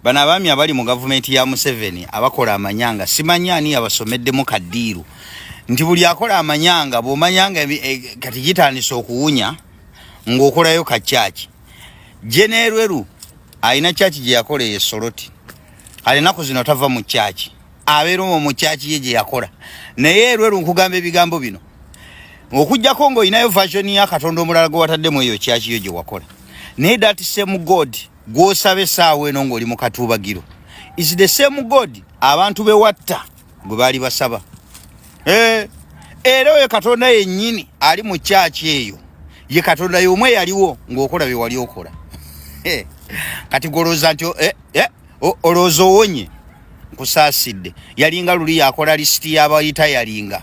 Bano abaami abali mu gavumenti ya Museveni abakola amanyanga simanyi ani yabasomeddemu kadiiru nti buli akola amanyanga bw'omanyanga e, kati gitandise okuwunya ng'okolayo ka kyaki jeneerweru alina kyaki gye yakola eyo esoloti kale ennaku zino tava mu kyaki abeera omwo mu kyaki ye gye yakola naye erweru nkugamba ebigambo bino okugyako ng'olinayo vasioni ya katonda omulala gwe wataddemu eyo kyaki yo gye wakola naye datisemu god gwosaba esaawa eno ng'oli mu katuubagiro is the same god abantu bewatta gwe baali basaba eh, era oyo katonda yennyini ali mu kyaki eyo ye katonda y'omu eyaliwo ng'okola bye wali okola eh, kati golowooza nti eh, olowooza owonye nkusaasidde yalinga luli yakola lisiti yabayita yalinga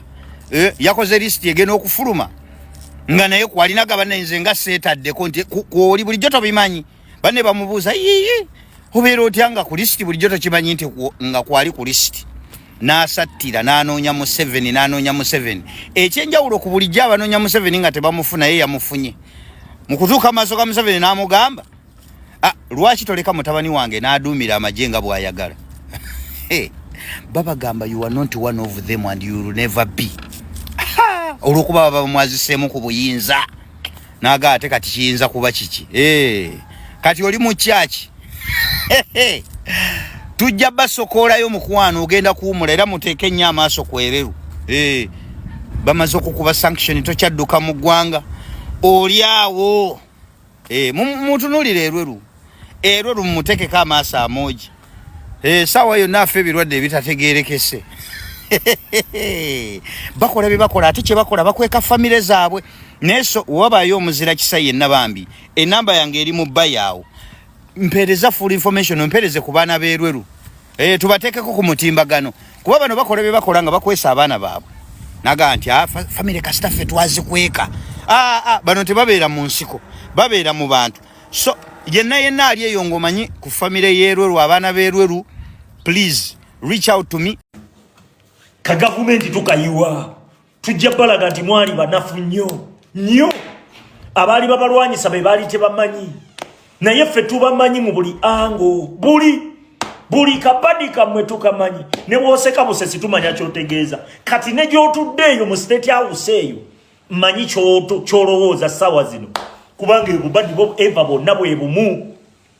eh, yakoze lisiti egenda okufuluma nga naye kwalina gabanenze nga seetaddeko nti kwoli bulijjo tobimanyi banne bamubuuza yiyi obeera otya nga ku lisiti bulijjo tokimanyi nti nga kwali ku lisiti n'asattira n'anoonya museveni n'anoonya museveni ekyenjawulo ku bulijjo abanoonya museveni nga tebamufuna ye yamufunye mu kutuuka amaaso ga museveni n'amugamba Ah, lwaki toleka mutabani wange n'aduumira amagye nga bw'ayagala babagamba you are not one of them and you will never be olwokuba baba bamwaziseemu ku buyinza naga ate kati kiyinza kuba kiki eh, kati oli mu kyaki tujja basokoolayo mukwano ogenda kuwumula era muteeke ennyo amaaso kwereru eh, bamaze okukuba sanction tokyadduka mu ggwanga oli awo Eh, mutunulire erweru erweru mumutekeko amaaso amoogi eh, saawa yonna afe ebirwadde ebitategerekese bakola byebakola ate kyebakola bakweka famire zaabwe naye so wabayo omuzira kisa yenna bambi enamba yange eri mu bayaawo mpereza full information mpereze ku baana berweru Hey, eh, tubatekeko ku mutimbagano kuba bano bakola bye bakola nga bakwesa abaana baabwe naga nti ah, fa, famire kasita ffe twazikweka ah, ah, bano tebabeera mu nsiko babeera mu bantu so yenna yenna ali eyo ngaomanyi ku famire yerweru abaana berweru please reach out to me kagavumenti tukayiwa tujja balaga nti mwali banafu nnyo nnyo abaali babalwanyisa be baali tebamanyi naye ffe tubamanyi mu buli ango buli buli kabadi kamwe tukamanyi ne bwoseka busesi tumanya kyotegeeza kati ne gyotudde eyo mu state house eyo manyi kyolowooza sawa zino kubanga ebubadi bo eva bonna bwe bumu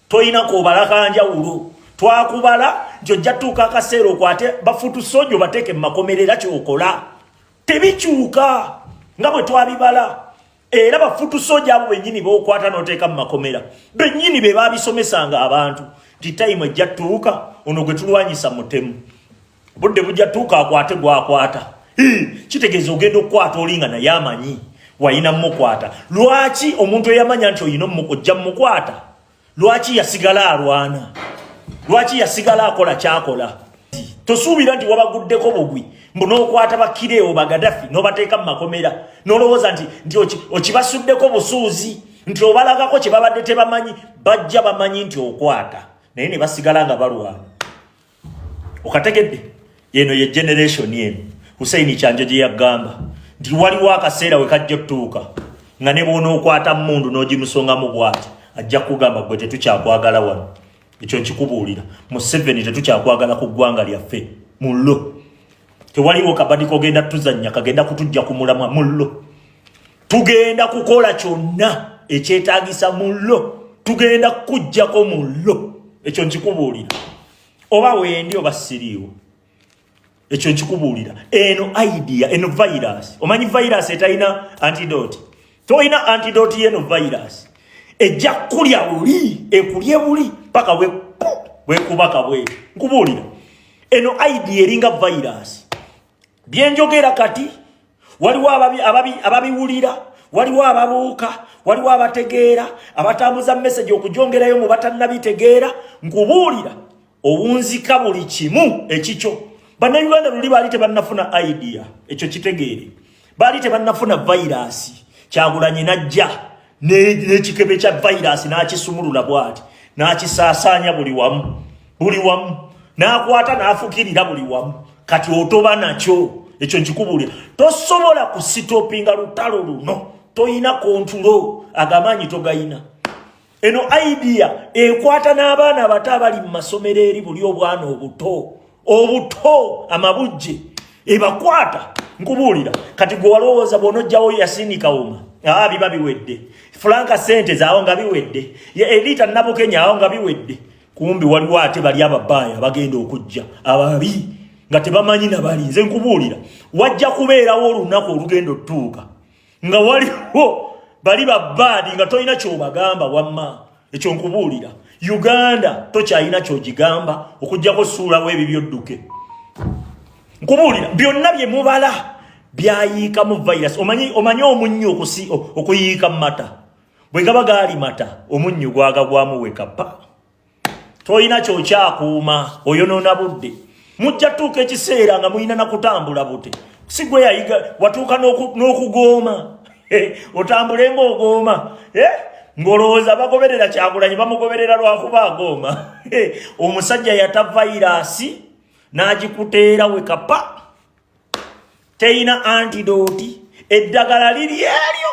tolina kubala kanjawulo twakubala nti ojja tuuka akaseera okwate bafutu soja obateeke mu makomero era kyokola tebikyuka nga bwe twabibala era bafutu soja abo bennyini bokwata noteeka mu makomera bennyini be babisomesanga abantu nti tayimu ejja tuuka ono gwe tulwanyisa mutemu budde bujja tuuka akwate gwakwata kitegeeza ogenda okukwata olinga naye amanyi wayina mukwata lwaki omuntu eyamanya nti oyina ojja mukwata lwaki yasigala alwana lwaki yasigala akola kyakola tosuubira nti wabaguddeko bugwi mbu nokwata bakireewo bagadafi nobateeka mu makomera nolowooza nti nti okibasuddeko busuuzi nti obalagako kyebabadde tebamanyi bajja bamanyi nti okwata naye nebasigala nga balwana okategedde eno ye generation eno hussein kyanjo gye yagamba nti waliwo akaseera we kajja otutuuka nga ne bwona okwata mundu n'ogimusongamu bwati ajja kugamba gwe tetukyakwagala wano ekyo nkikubuulira museveni tetukyakwagala ku ggwanga lyaffe mullo tewaliwo kabadi kogenda tuzannya kagenda kutujja ku mulamwa mullo tugenda kukola kyonna ekyetagisa mullo tugenda kujjako mullo ekyo nkikubuulira oba wendi oba siriiwo ekyo nkikubuulira eno idea eno virus omanyi virus etalina antidote tolina antidote yeno virus ejja kulya buli ekulye buli paka we wekubaka bwe nkubuulira eno idea eringa virus byenjogera kati waliwo ababiwulira waliwo ababuuka waliwo abategeera abatambuza meseji okujongerayo mu batannabitegeera nkubuulira owunzika buli kimu ekikyo bannayuganda luli baali tebannafuna idea ekyo kitegeere baali tebannafuna vayiraasi kyagulanyi najja n'ekikebe kya vayiraasi n'akisumulula bwati n'akisaasaanya buli wamu buli wamu n'akwata n'afukirira buli wamu kati otoba nakyo ekyo nkikubuulira tosobola kusitopinga lutalo luno tolina kontulo agamaanyi togayina eno idea ekwata n'abaana abato abali mu masomero eri buli obwana obuto obuto amabujje ebakwata nkubuulira kati gwe walowooza bwonojjawo yasinika uma aa biba biwedde fulanka sente zaawo nga biwedde eliita nabukenya awo nga biwedde kumbi waliwo ate bali ababaaya bagenda okujja ababi nga tebamanyi nabali nze nkubuulira wajja kubeerawo olunaku olugenda otutuuka nga waliwo bali babbaadi nga tolina kyobagamba wamma ekyo nkubuulira uganda tokyalina kyogigamba okugjako suulawo ebyo byodduke nkubuulira byonna bye mubala byayiikamu virus omanyi omanyi omunnyo okusi okuyiika mata bwe gaba gaali mata omunnyo gwagagwamu wekapa tolina kyokyakuuma oyonoona budde mujja tuuka ekiseera nga mulina nakutambula bute sigwe yayiga watuuka n'okugooma eh, otambule ngaogooma eh, ng'olowooza bagoberera kyagulanyi bamugoberera lwakuba agooma eh, omusajja yata vayiraasi n'agikuteera we kapa teyina antidooti eddagala liri eryo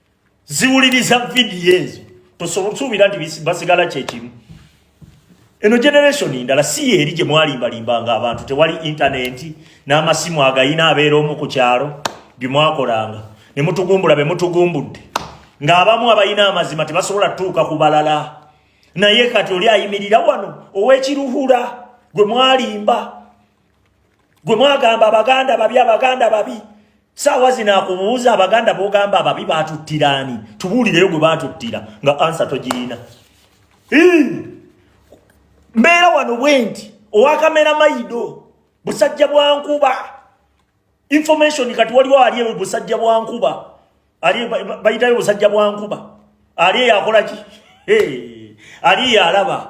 ziwuliriza vidiyo ezo tosuubira nti basigala kyekimu eno generation ndala si yeeri gye mwalimbalimba nga abantu tewali intaneti n'amasimu agayina abeera omu ku kyalo bye mwakolanga ne mutugumbula be mutugumbudde ng'abamu abalina amazima tebasobola tutuuka ku balala naye kati oli ayimirira wano ow'ekiruhura gwe mwalimba gwe mwagamba abaganda babi abaganda babi saawa zino akubuuza abaganda bogamba ababi batuttira ani tubuulireyo gwe batuttira nga ansa togirina mbeera wano bwenti owakamera mayido busajja bwankuba information kati waliwo ali ewe busajja bwankuba ali bayitayo busajja bwankuba ali eyakolaki ali eyalaba hey.